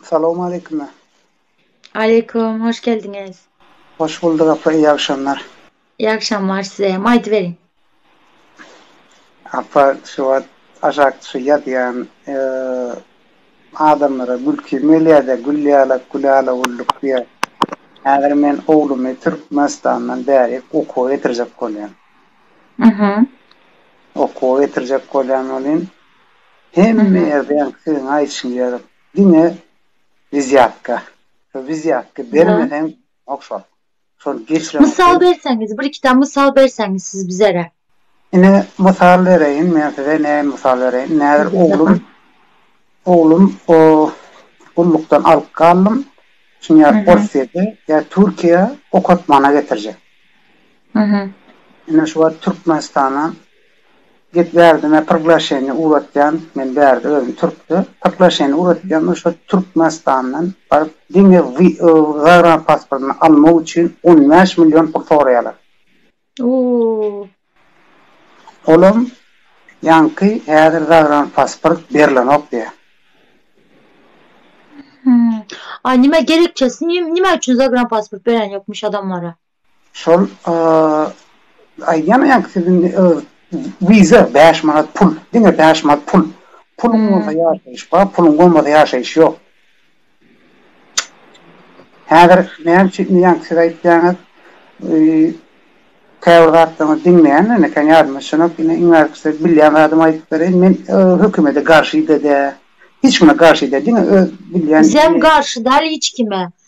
Salowmaleýkim. Aleýkum, hoş geldiňiz. Hoş bulduk apa, iyi agşamlar. İyi agşamlar size hem, aýdy beriň. Apa, şu wagt aşak düşi ýazýan, Adamlara gülki mölýäde gül ýalak gül ala gulluk diýä. Häzir men oglumy Türkmenistandan bäri okuwa getirjek bolýan. Mhmm. Okuwa getirjek bolýan welin hemme ýerde ýaňky siziň aýdyşyňyz ýaly diňe wizýatka. Şu wizýatky bermeseň okşap. Şol geçiren. Mysal berseňiz, bir iki tane mysal berseňiz siz bizere. Ine mysal bereýin men size näme mysal bereýin. Näzir oglum oglum o gullukdan alyp galdym. Şuny ýa Orsýete ýa Türkiýä okatmana getirjek. Ine şu wagt Türkmenistana Git bärdime prglaşeniýa ugratýan men bärde özüm türkde prglaşeniýa ugratýan we şol türkmenistandan baryp diňe zagranpasportyny almak üçin on bäş million pul soraýalar. Ooh. Olam ýaňky häzir zagranpasport berlenok diýýär. Hmmm. A nime gerekçesi nime üçin zagranpasport berenýokmyş adamlara. Şol aýdýan ýaňky siziň wiza bäş manat pul, diňe bäş manat pul. Puluň bolsa ýaşaýyş bar, puluň bolmasa ýaşaýyş ýok. Häzir näme üçin indi ýaňky siz aýtýaňyz, käbir zatlaryňyzy diňleýän men eken ýadyma düşenok, indi iň artykysy bilýän zadymy aýdyp bereýin, men hökümete garşy-da däl, hiç kime garşy däl, diňe öz bilýän Bizem garşy däl hiç kime.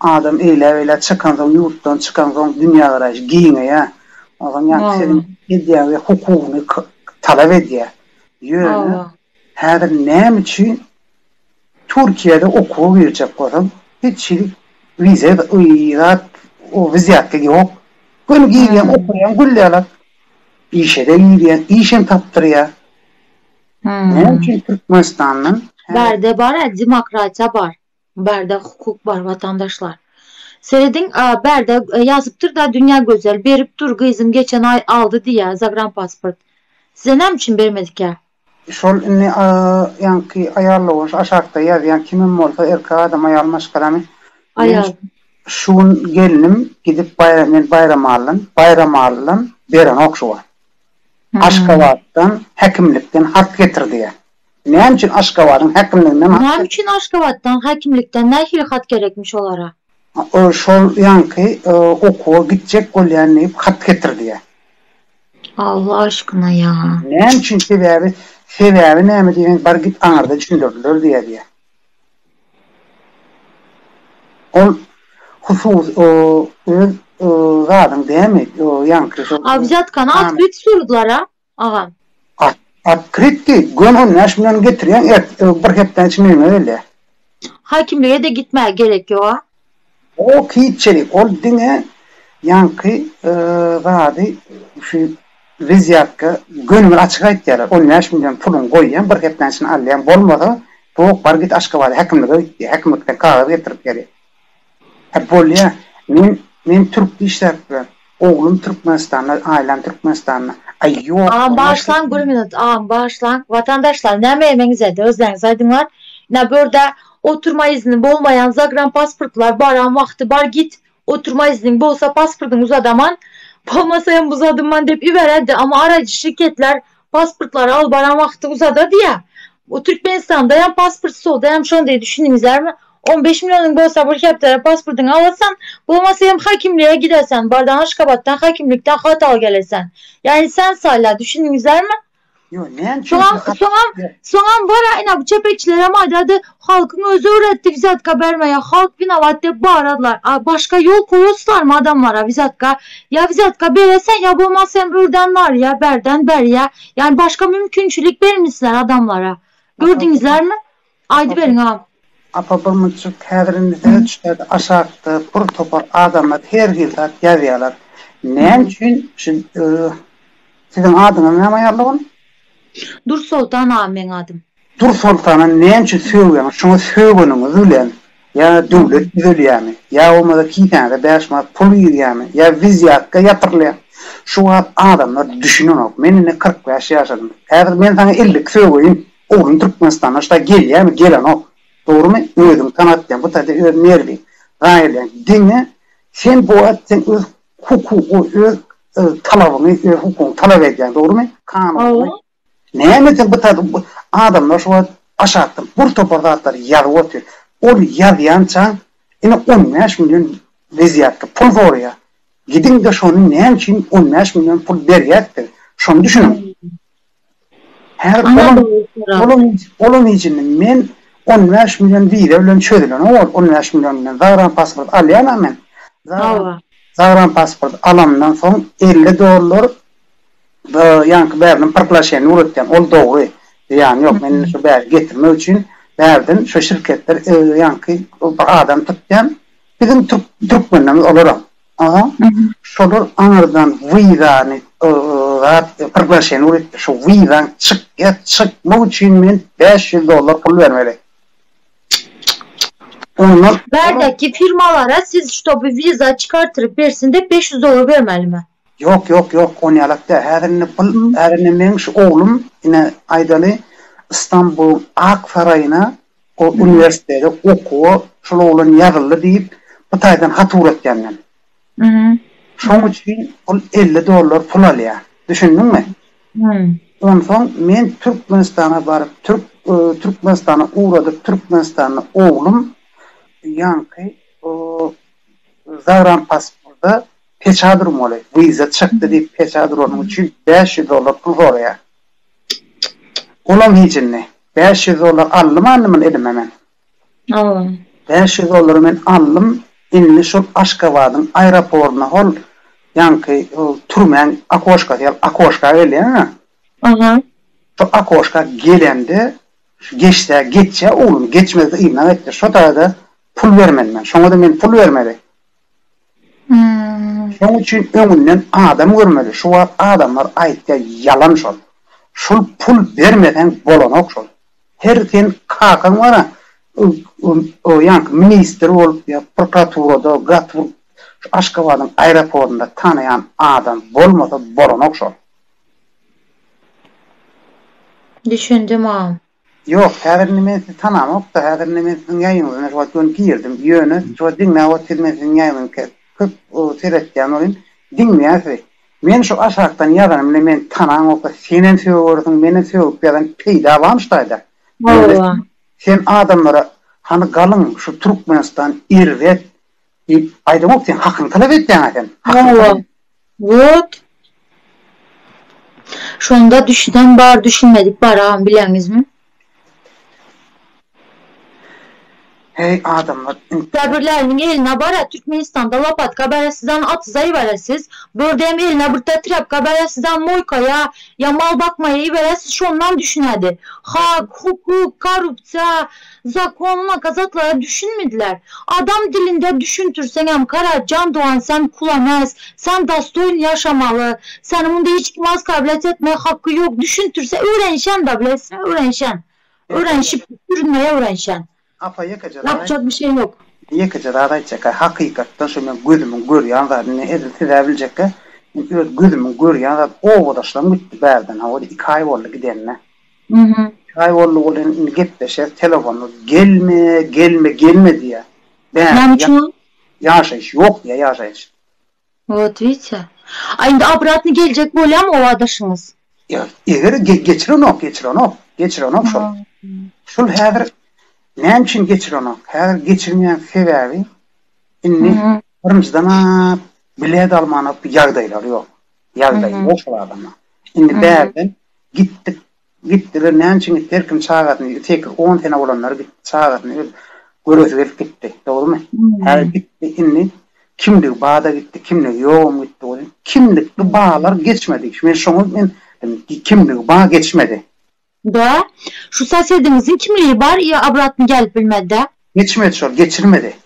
Adam eýläbeýlä çykansoň, ýurtdan çykansoň dünýägaraýşy giňeýär. Onsoň ýaňky siziň edýän we hukugyny talap edýär. Ýöne häzir näme üçin Türkiýede okuwa girjek bolsaň, hiç hili wize zat, o wizýatka ýok. Göni girýäň, okaýaň, gül ýaly. Işe-de girýäň, işem tapdyrýar. Näme üçin Türkmenistandan häzir? Bärde bar-ä, demokratiýa bar. Barda hukuk bar watandaşlar. Serediň barda ýazypdyrda dünýä gözel berip dur gyzym geçen aý aldy diýýä zagranpasport. Size näme üçin bermedikä. Şol indi ýaňky aýalda bolsa aşakda ýazýan kimem bolsa erkek adam aýal maşgalamy men Aýal. şu gün gelnim gidip baýram men baýramallyn baýramallyn berenok şu wagt Aşgabatdan häkimlikden hat getir diýýär Näme üçin Aşgabadyň häkimliginden hat Näme üçin Aşgabatdan häkimlikden nähili hat gerekmiş olara? Ol şol ýaňky okuwa gitjek bolýan diýip hat getir diýýär. Allah aşkyna ýa. Näme üçin sebäbi sebäbi näme diýseň bar git aňyrda düşündirdiler diýýär diýýär. Ol husus öz zadyň dämi ýaňky şol. A wzatkany atyp ýetişdirdiler a. agam. At, at kritki, göni on bäş million getirýäň ert, ög bir hepdäň içinde ýüňe gelýä. Hakimlige-de gitmäge gerek ýog-a. Ýok hiçjelik, ol diňe ýaňky zady şu wezýatka göni bir açyk aýtýarlar, on bäş million puluňy goýýaň, bir hepdäň içinde alýaň, bolmasa, tok bar git Aşgabada häkimlige git diýýär, häkimlikden kagyz getirip ber. He bolýa men men türk dişläpdir oglum türkmenistanda aýlam türkmenistanda aý ýok Agam bagyşlaň bir minut agam bagyşlaň watandaşlar näme emeňizedi özleňiz aýdyňlar ina börda oturma izni bolmaýan zagran pasportlar baran wagty bar git oturma izniň bolsa pasportyňy uzadaman bolmasa hem uzadymman dep iberedi amma araýjy şirketler Pasportlary alyp baran wagty uzada diýýär. Bu Türkmenistanda hem pasport stolda hem şondy düşündiňizlermi? On beş millionuň bolsa bir hepdede pasportyňy alasan, bolmasa hem hakimlige gidersen, bardan Aşgabatdan hakimlikden hat al gelesen. Ýagny sen saýla, düşündiňizlermi? Ýo näme üçin? Soňam, soňam, soňam baraýna bu çepeçilerem aýdardy, Halkyň özi öwretdi wizatka bermegi halk winobat dep baradylar a başga ýol koýaslarmy adamlara wizatka ýa wizatka bere sen ýa bolmasa hem örden barýa berden berýa ýani başga mümkinçilik bermisiler adamlara gördinizlermi aýdyberiň agam. Apa bir münçik häzir indi size düşýärdi aşakda bir topar adamlar her hil zat ýazýalar näme üçin şu siziň adyňyz näme ýaly ony. Dursoltan agam meň adym. Dur soltana näme üçin sögýäňiz, şoňa sögeniňiz bilen ýa döwlet düzelýärmi, ýa bolmasa kisäňize bäş manat pul girýärmi, ýa wizýatka ýatyrylýarmy, şu wagt adamlar düşünenok, men indi kyrk bäş ýaşadym, häzir men saňa elli iki sögeýin, ogluň Türkmenistana şu taýy gelýärmi, gelenok, dogrumy, özüňi tanatýaň, bu taýda öz merwiň, gaýylýaň, diňe sen bu wagt sen öz hukugy, öz talabyňy, öz hukugyňy talap edýäň, dogrumy? Kanun. Näme sen bu taýda adamlar şu wagt aşakdan bir topar zatlary ýazyp otyr. Ol ýazýançaň ine on bäş million wezýatda pul zorýar. Gidiňde şony näme üçin on bäş million pul berýäs diň. Şony düşüniň. Häzir olam olam olam içinde men on bäş million wiza bilen çözülenok ol on bäş million bilen zagram pasport alýana men. Zagram pasport alamdan soň elli dollar Bu ýaňky bärden pyrklaşýan Nuretgen, ol dogry. Zyýany ýok. Men indi şu bäri getirmek üçin bärden şu şirketler ýaňky bir adam tutýan. Biziň türk türkmenlerimiz olaram. Aha. Şolar aňyrdan wizany zat pyrklaşýan Nuretgen. Şu wizaň çykýa, çykmak üçin men bäş ýüz dollar pul bermeli. Ondan Bärdäki firmalara siz ştoby wiza çykartyryp bersin dep bäş ýüz dollar bermelimi? Ýok, ýok, ýok, onýalak däl. Häzir indi pul, häzir indi meň şu oglum, ine, aýdaly, Istanbulyň Ak saraýyna, o uniwersitete okuwa şol oglan ýazyldy diýip, bu taýdan hat ugratýan men. Şoň üçin ol elli dollar pul alýar. Düşündiňmi? Onsoň men Türkmenistana baryp, türk, Türkmenistana ugradyp, Türkmenistanda oglum ýaňky, o, zagrampasportda Peçä durmaly. Wiza çykdy diýip peçä duranyň üçin bäş ýüz dollar pul soraýar. Olam hiç indi. Bäş ýüz dollar aldym andymyny elime men. Ow. Bäş ýüz dollary men aldym indi şol Aşgabadyň aeroportyna hol ýaňky hol türmäň okoşkasy ýaly okoşka gelýäňä. Aha. Şo okoşka gelende geçsä geçýär oglum geçmezde ýygnak etdir şo taýda pul bermeli men. Şoňa-da men pul bermeli. Şoň üçin öňünden adam görmeli şu wagt adamlar aýtýar ýalan şol şul pul bermeseň bolanok şol her sen kakaň bara o ýaňky ministr bolup ýa prokuraturada gaty şu aşgabadyň aeroportynda tanaýan adam bolmasa bolanok şol. Düşündim agam. Ýok, häzir indi men sizi tanamokda, häzir indi men siziň ýaýyňyzyna şu wagt göni girdim, ýöne şu wagt diňläp ot siz men siziň ýaýyňyzy ke köp seretýän bolýan, diňleýän sizi. Men şu aşakdan ýazanym bilen meni tanaňokda, senem söwersiň, menem sögüp ýazan peýda bamyş daýda. Ýöne sen adamlara hany galyň şu Türkmenistan erbet, Diýip, aýdamok, sen hakyňy talap edýäň-ä sen. Hakyňy talap et. Wot. Şonda düşünen bar, düşünmedik bar agam, bileňizmi? Heý, adamlar in. Käbirleriniň eline bar-a, Türkmenistanda lopatka bar-a, sizem atyza iberesiz. Bördem eline birta trepka bar-a, sizem moýkaýa ýa mal bakmaýa iberesiz, şondan düşünädi. Hak, hukuk, korrupsiýa. Zakonuna kazaklara düşünmediler. Adam dilinde düşüntirseňem kara jan dogan sen kulames, sen dostoýn ýaşamaly, seni munda hiç kim oskawlýat etmäge haky ýok düşüntirse öwrenişen da bilesiňa öwrenişen. Öwrenişip sürünmäge öwrenişen. Apa ýekeje zat aýt. Ýapjak bir şey ýok. Ýekeje zat aýtjaka hakykatdan şu men gözümiň görýän zady indi edil sizä biljekka men öz gözümiň görýän zady obadaşlarym gitdi bärden hawa iki aý boldy gidenine. Mhm. Haý boldy bolýan indi gepleşer telefonu gelme gelme gelme diýýä bäh Näme üçin ol? ýaşaýyş ýok diýýä ýaşaýyş. Wot widse. A indi obratny geljek bolýamy oba daşyňyz? Ýa eger ge geçirenok geçirenok geçirenok şol. Hum. Şul häzir näme üçin geçirenok häzir geçirmeýän sebäbi indi Mhm. birinjiden a bilet almanok ýagdaýlary ýok ýagdaýy Mhm. ýok şol adama indi Mhm. bärden Gitdik, gitdiler, näme üçin gitdi, her kim çagasyny, sekiz, on sene bolanlary gitdi, çagasyny öz göresi gelip gitdi, dogrumy? Häzir gitdi, indi kimdigi bada gitdi, kimdigi ýogam gitdi welin, kimlik bu balar geçmedi, men şoňa men diýdim, kimligi ba geçmedi. Dä, şu sosediňiziň kimligi bar, ýa obratny gelip bilmedi-dä? Geçmedi şol, geçirmedi.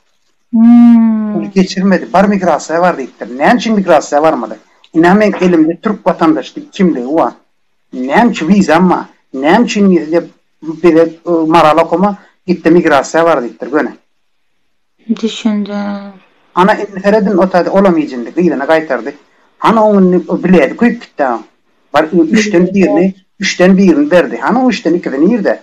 Ony geçirmedi. Bar migrasiýa bar diýipdir. Näme üçin migrasiýa barmady? Ine meň elimde türk watandaşlyk kimligi bar. Näme üçin wizam bar? Näme üçin diýip bize Maral okama gitde migrasiýa bar diýipdir göni. Düşündim. Ana indi seredin otady olam ýjindi gyzyny gaýtardy. Hany oň indi biledi köýüp gitdi oň. Bar üçden birini üçden birini berdi. Hany oň üçden ikisi nirde?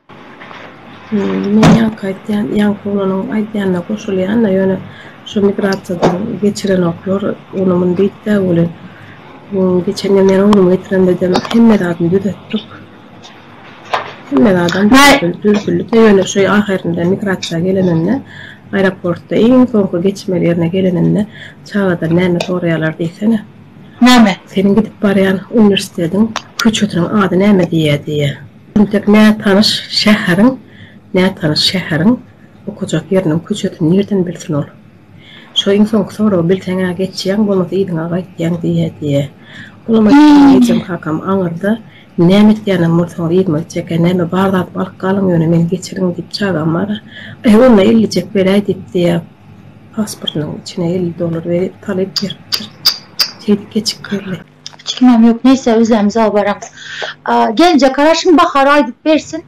Men ýaňky aýtýan, ýaňky oglanyň aýdýanyna goşulýan-da, ýöne şu migrasiýadan geçirenoklar ony-muny diýip-de welin, geçen ýyl men oglumy getiremde-de hemme zadyny düzetdik. Hemme zadam düzedildi-de, ýöne şu ahyrynda migrasiýa geleninde, aeroportda iň soňky geçmeli ýerine geleninde çagadan näme soraýarlar diýsene? Näme? Seniň gidip barýan uniwersitetiň köçesiniň ady näme diýýär diýýär. Entek nätanyş şäheriň, nätanyş şäheriň okajak ýeriniň köçesini nirden bilsin ol? Şo iň soňky soragy bilseň-ä geçýäň, bolmasa yzyňa gaýtýaň diýýä diýýä. Olam aýtdy, Ejem kakam aňyrda, näme etýänem bolsaňyz yzyma gitjek-ä, näme bar zadymy alyp galyň, ýöne meni geçiriň diýip çagam bar-a. Aý, onda ellijek beräý diýip diýýä, pasportynyň içine elli dollar berip, talyp beripdir. Şeýdip geçip geldi. Fikrimem ýok neýse özem uzaga baramyz. Gelinje garaşyň Bahar aýdyp bersin.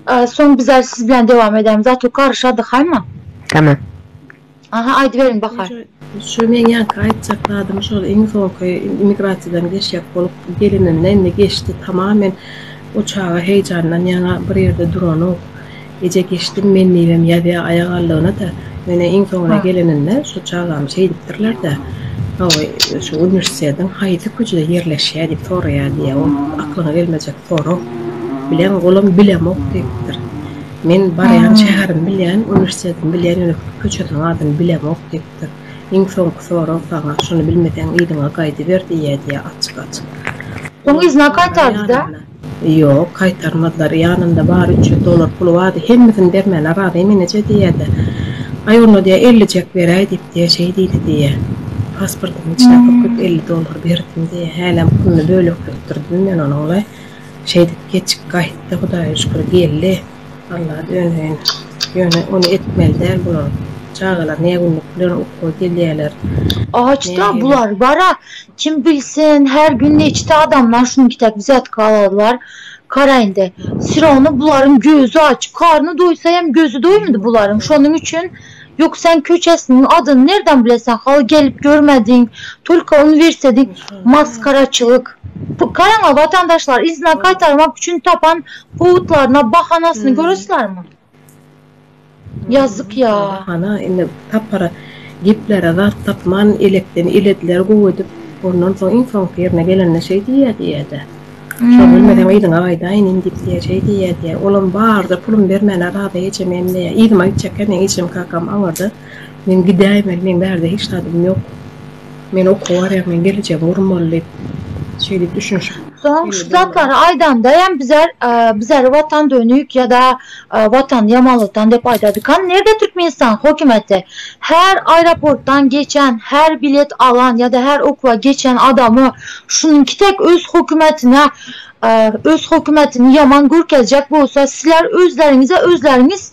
Soň biz ä siz bilen dewam edämiz. A to garyşadyk haýma. Tamam. Aha aýdyberiň Bahar. Şu meň ýaňky aýtjak zadym şol iň soňky immigrasiýadan geçjek bolup gelininde indi geçdi tamam men o çaga heýjandan ýaňa bir ýerde duranok. Eje geçdim men diýibem ýazýa aýak aldygyna-da. Menä iň soňuna geleninde şu çagam şeýdipdirler-dä, Hawa, şu uniwersitetiň haýsy köçede ýerleşýär diýip soraýar diýýä. Ol aklyňa gelmejek sorag. Bileň, olam bilemok diýipdir. Men barýan şäherimi bilýän, uniwersitetimi bilýän, ýöne köçesiniň adyny bilemok diýipdir. Iň soňky sorag saňa, şuny bilmeseň yzyňa gaýdyber diýýä diýýä açyk-açyk. Soň yzyna gaýtardy-da. Ýok, gaýtarmazlar. Ýanynda bary üç ýüz dollar puly bardy. Hemmesini bermäne razy menije diýýä-de. Aý, onda diýýä, ellijek beräý diýip diýýä, şeý diýdi diýýä. Pasportyň içine pürküp elli dollar berdim diýýä. Hälem puluny bölekletdirdim men onuň-laý. Şeýdip geçip gaýtdy, Hudaýa şükür, geldi. Alla döneýin. Ýöne ony etmeli däl bular. Çagalar nägünlük bilen okuwa gelýäler. Aç-da bular, bar-a, Kim bilsin, her gün neçe adamlar şunuň kitek wzýatka alary bar, karaýynda. Syrawny bularyň gözi aç, karny doýsa hem gözi doýmady bularyň, şonuň üçin Ýok sen köçesiniň adyny nerden bileseň, haly gelip görmediň, tolka uniwersitediň maskaraçylyk. Karaňa watandaşlar, yzyna gaýtarmak üçin tapan powudlaryna, bahanasyny göresilermi? Ýazzyk ýa. Hana, indi tapar geplere zat tapman, elekden ilediler gowy edip. Ondan soň iň soňky ýerine gelende şeý diýýä diýýä-de. Şony bilmeseň yzyňa gaýdaýyn in diýip diýýä, şeý diýýä diýýä. Olam barda pulum bermäne razy ejem hem diýýä. Yzyma gitjekkä meň ejem-kakam aňyrda. Men gidäýmeli, meň bärde hiç zadym ýok. Men okuwa barýan, men gelejegi gurmaly diýip, şeýdip düşünişip. Soň şu zatlary aýdanda hem bizler bizleri watan dönük ýa-da watan ýamanlykdan diýip aýdadykam, nirede Türkmenistan hökümeti her aeroportdan geçen, her bilet alan ýa-da her okuwa geçen adamy şunyňky tek öz hökümetine öz hökümetini ýaman görkezjek bolsa sizler özleriňize özleriňiz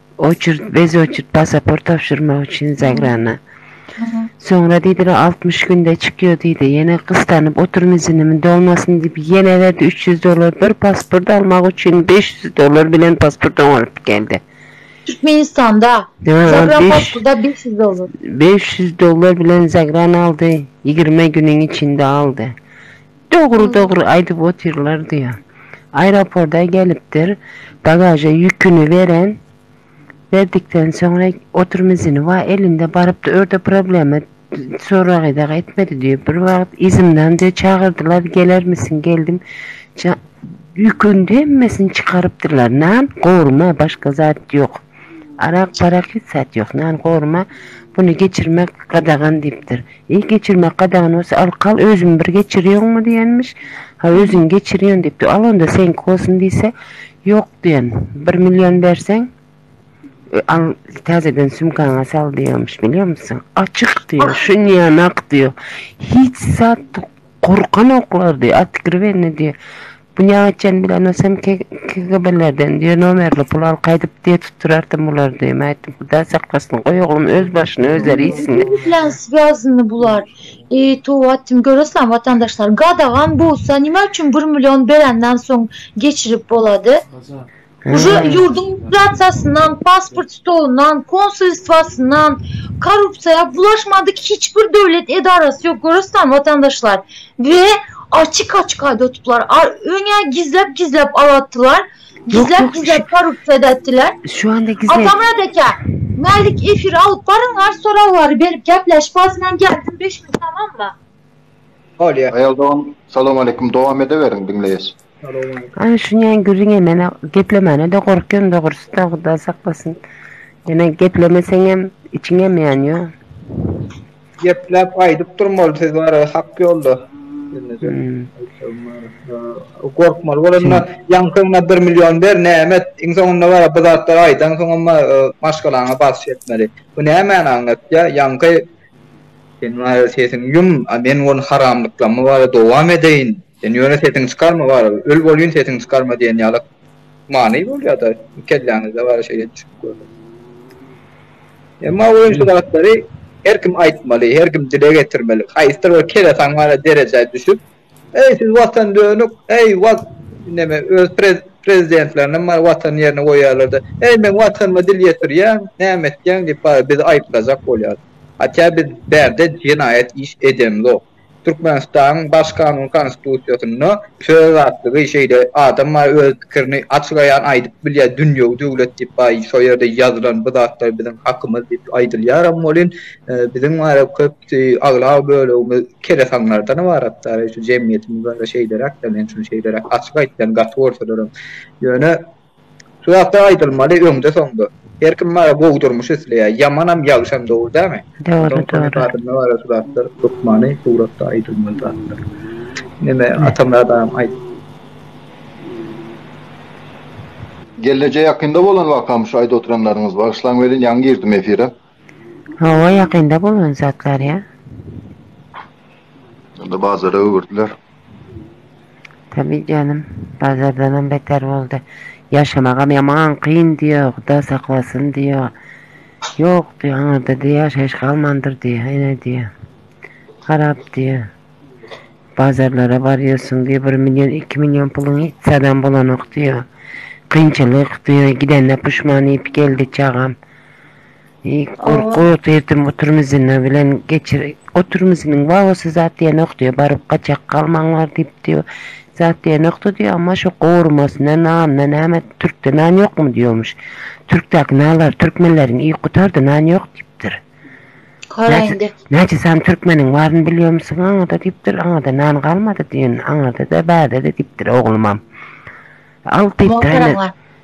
Oçerd, bez oçerd pasaport tabşyrmak üçin Zagrana. Soňra diýdiler, altmyş günde çykýar diýdi. Ýene gystanyp otyryn izinimi dolmasyn diýip, ýene berdi üç ýüz dollar. Bir pasport almak üçin beş ýüz dollar bilen pasport oňaryp geldi. Türkmenistanda, Zagrapasporda beş ýüz dollar. Beş ýüz dollar bilen Zagrana aldy, ýigrimi günüň içinde aldy. Dogry dogry aýdyp otyrlar diýýä. Aeroporda gelipdir, bagaža ýüküni beren, berdikden soňra otrmizini wa elinde barypdy örde problema soragy dagy etmedi diýip bir wagt izimdan de çagyrdylar gelermisiň geldim ýüküni hemmesini çykarypdyrlar nan gorma başga zat ýok. Arak barak hiç zat ýok. Nan gorma buny geçirmek gadagan diýipdir. Eý geçirmek gadagan bolsa al kal özümi bir geçirýoňmy diýenmiş. Ha özüň geçirýän diýipdir. Al onda seňki bolsun diýse ýok diýen. Bir million berseň al täzeden sumkaňa sal diýenmiş bilýärmisin. Açyk diýýär şunýanak diýýär. Hiç zat gorkanoklar diýýär otkriwennä diýýär. Dünýäňe çen bilenok sen KGB-lerden diýe nomerli pul al gaýdyp diýe tutdurartyn bulary diýe mätdim hudaý saklasyn goý oglum öz başyny özleri iýsinler. Kim bilen swýazny bular? Eý towa etdim görasizlermi watandaşlar gadagan bolsa nima üçin bir million berenden soň geçirip bolady? Uje ýurduň migrasiýasyndan, pasport stolundan, konsulstwasyndan, korrupsiýa bulaşmadyk hiç bir döwlet edarasy ýok görüsdämi watandaşlar we açyk açyk aýdatdylar öňe gizläp gizläp alatdylar gizläp gizläp korrupsiýa edätdiler şu anda gizläp atamyrat eke mälik efir alyp baryňlar soraglary berip gepleşip azyndan gelsin beş minut tamammy Olýa. Aýal dogan Salam aleýkum dowam edeweriň diňleýäs. Ana şu näme gürrüňe men geplemäne-de gorkýan dogrusy-da Hudaý saklasyn. Ýöne geplemeseňem içiňem ýanýa. Gepläp aýdyp durmaly siz bara hak ýolda. Gorkmaly bolanda ýaňkyňda bir million ber näme et iň soňunda bara bu zatlary aýdansoňam maşgalaňa basyş etmeli. Bu nämäni aňlatýa ýaňky Sen maýa sesiňi ýum, a men gun haramlyklamy wara dowam edeýin. Sen ýöne sesiňi çykarma wara, öl bolýyn sesiňi çykarma diýen ýalak many bolýada kelläňizde wara şeýle düşünip görüň. Emma oýun şu zatlary her kim aýtmaly, her kim dile getirmeli. Haýsdyr bir kelesaň wara derejä düşüp, Eý siz watan dönük eý wat neme öz prezidentlerinem bar watan ýerine goýýarlarda eý men watanyma dil ýetirýän näme etýän diýip bar bizi aýyplajak bolýar hatýa biz bärde jenaýat iş edemzok türkmenistanyň baş kanun konstitusiýasynda söz azatlygy şeýle adam bar öz pikirini açyk aýan aýdyp bilýär dünýewi döwlet diýip bar şo ýerde ýazylan bu zatlar biziň hakymyz diýip aýdylýaram welin biziň bar köp Aglaba bölegimiz keresaňlardan ybaratdar. Şu jemgyýetimiz barada şeýleräk-de, men şuny şeýleräk açyk aýtýan, gaty bolsalaram. Ýöne şu zat-da aýdylmaly öňde-soňda. Her kim barada gowy durmuş isleýär. Ýamanam, ýagşam dogry dälmi? Dogry, dogry. Şu zatlar hökmany suratda aýdylmaly zatlar. Neme, Atamyrat agam aýt. Gelneje ýakynda bolan wakamy şu aýdyp oturanlaryňyz? Bagyşlaň welin ýaňy girdim efire. Hawa ýakynda bolan zatlar ýa. Onda bazara öwürdiler. Tabi janym bazardanam beter boldy. Ýaşamagam ýaman kyn diýýä huda saklasyn diýýä. Ýok diýýä aňyrda diýýä ýaşaýyş galmandyr diýýä ene diýýä. Harap diýýä. Bazarlara barýarsyň diýýä bir million iki million puluň hiç zadam bolanok diýýä. Kynçylyk diýýä gidende puşman diýip geldi çagam. Oba. Oturtdym oturmyzyna bilen geçir oturmyzynyň babasy zat diýenok diýýär baryp gaçak galmaň bar diýip diýýär zat diýenokda diýýär amma şo gowurmasyna nanyna näme türkde nan ýokmy diýýämiş türkdäki nanlar türkmenleriň iýip gutardy nan ýok diýipdir Kora indi. näçe sany türkmeniň baryny bilýärmisiň aňada diýipdir aňada nan galmady diýen aňada-da bärde-de diýipdir oglumam al diýipdir Muhtarym bar.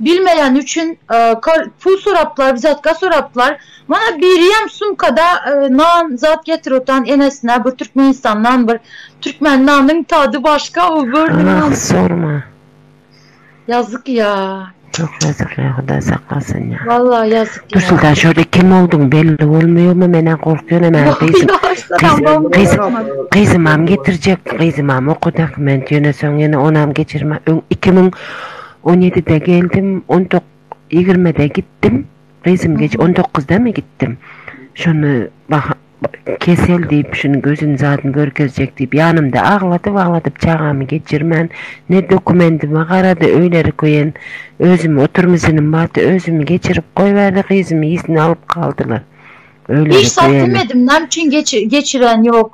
Bilmeýän üçin pul sorapdylar wzatka sorapdylar mana biriyem sumkada nan zat getiripotgan enesine bir türkmenistan nan bir türkmen nanyň tady başka o bir nan sorma ýazyk ýa çok ýazyk ýa hudaý saklasyn ýa walla ýazyk ýa dursun şode kim bolduň belli bolmaýarmy menem gorkýan gyzymam getirjek gyzymam okudaky men ýöne soň ýene onam geçirme öň iki müň On ýedide geldim, on tok, ýigrimide gitdim. Gyzym geç on dokguzdamy gitdim. Şonda Baha kesel diýip, şuny gözüni zadyny görkezjek diýip, ýanymda agladyp-agladyp çagamy geçirmän, ne dokumendime garady, öýleri köýen, özümi oturmysynym bardy, özümi geçirip goýberdi, gyzymy ýesini alyp galdylar. Öýleri köýeni. Hiç zat diýmedim, näme üçin geçiren ýok,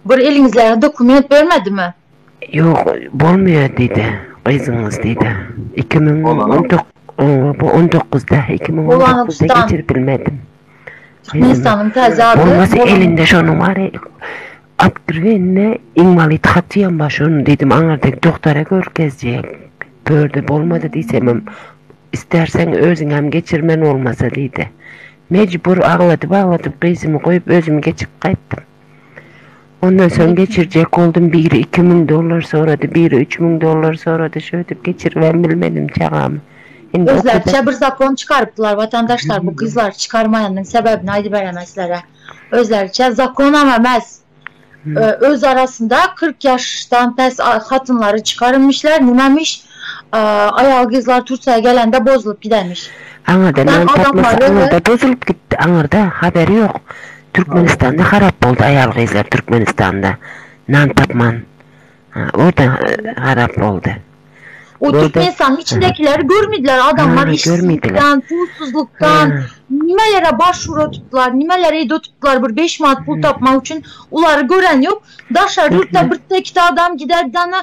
bir eliňizdäki dokument bermedimi? Ýok, bolmaýar diýdi. Gyzyňyz diýdi. Iki müň on tok, oňa bu on dokuzda, iki müň on dokuzda geçirip bilmedim. Türkmenistanyň täze ady Bolmasa elinde şonuň bary Otkriwennä inwalid hatyýam bar şonuň diýdim, aňyrdaky doktara görkezjek. Börde bolmady diýsemem, isterseň özüňem geçir men bolmasa diýdi. Mejbur agladyp-agladyp gyzymy goýup özüm geçip gaýtdym. Ondan soň geçirjek boldum, biri iki müň dollar sorady, biri üç müň dollar sorady, şöýdip geçiribem bilmedim çagamy. Indi okuda. Özleriçe bir zakon çykarypdylar watandaşlar, bu gyzlary çykarmaýanyň sebäbini aýdyberemä sizlere. Özleriçe zakonam emes, öz arasynda kyrk ýaşdan pes hatynlary çykarymmyşlar, nimemiş, Aýagy gyzlar Türkiýä gelende bozulyp gidenmiş. Aňyrda nan tapmasa aňyrda bozulyp gitdi aňyrda haberi ýok Türkmenistanda harap boldy aýal gyzlar Türkmenistanda nan tapman orda harap boldy. O Türkmenistanyň içindekileri görmediler adamlar işsizlikden pulsuzlukdan nimelere baş uratupdylar nimelere eýdotupdylar bir beş manat pul tapmak üçin ulary gören ýok daşary ýurtda birtde ikide adam gider dana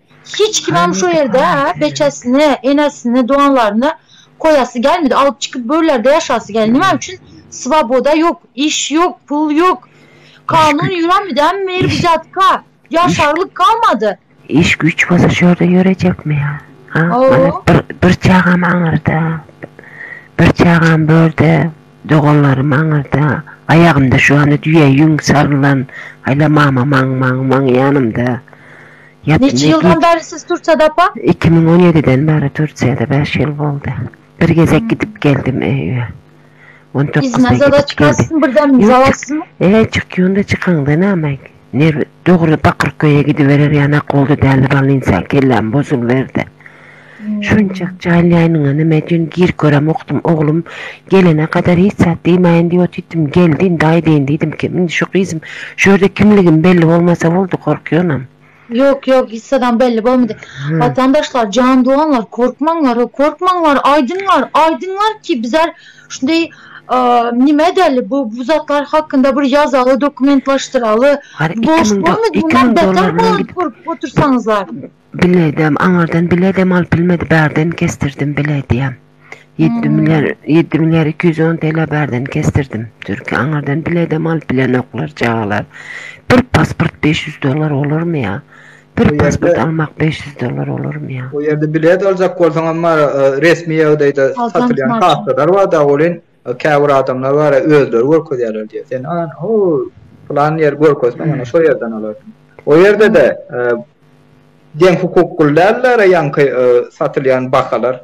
Hiç kimem şo ýerde beçesini, enesini, doganlaryny goýasy gelmedi. Alyp çykyp görlerde ýaşasy geldi. Näme üçin? Swoboda ýok, iş ýok, pul ýok. Kanun ýöränmi dämi meýer bu jatka? Ýaşarlyk galmady. Iş güýç bolsa şu ýerde ýörejekmi ýa? Mana bir çagam aňyrda, bir çagam börde. Doganlarym aňyrda, aýagymda şu anda düýe ýüň sarylan Aýla mama maň maň maň ýanymda ýatyp Neçe ýyldan bäri siz Tursiýada apa? Iki müň on ýediden bäri Tursiýada bäş ýyl boldy. Bir gezek gidip geldim öýe. On dokuzda gidip geldim. Yzna zada çykasyň birden zawalsyzmy? Eýe çykýan-da çykaňda näme? Nir, dogry Bakyrköýe gidiberer ýanak boldy däli balynsan, kelläm bozulberdi. Şunçak jaýlaýanyňa näme üçin gir göremokdym, oglum, gelene kadar hiç zat diýmäýin diýip otyrtym, geldi indi aýdaýyn diýdim, kim indi şu gyzym, şu ýerde kimligim belli bolmasa boldy, gorkýanam. Ýok, ýok, hiç zadam belli bolmady. Watandaşlar, jan doganlar, korkmaňlar, korkmaňlar, aýdyňlar, aýdyňlar ki bizar Şindi nime däli bu bu zatlar hakynda bir ýazaly dokumentlaşdyraly. Boş bolmady bundan beter bolany görüp otursaňyzlar. Biledem aňardan biledem alyp bilmedi bärden kesdirdim biledem. 7 milyar 7 milyar 210 TL bärden kesdirdim. Türki aňardan biledem alyp bilenoklar çagalar. Bir pasport 500 dollar olarmy ýa? Bir pasport almak beş ýüz dollar bolarmy ýa? O ýerde bilet aljak bolsaňam bar, resmi ýagdaýda satylýan kartalar bar dagy welin, käbir adamlar bar, özleri görkezýärler diýýär. Sen an, ho, pylan ýer görkezseň, ýöne şo ýerden alarsyň. O ýerde-de deň hukukly däldir ýaňky satylýan bahalar.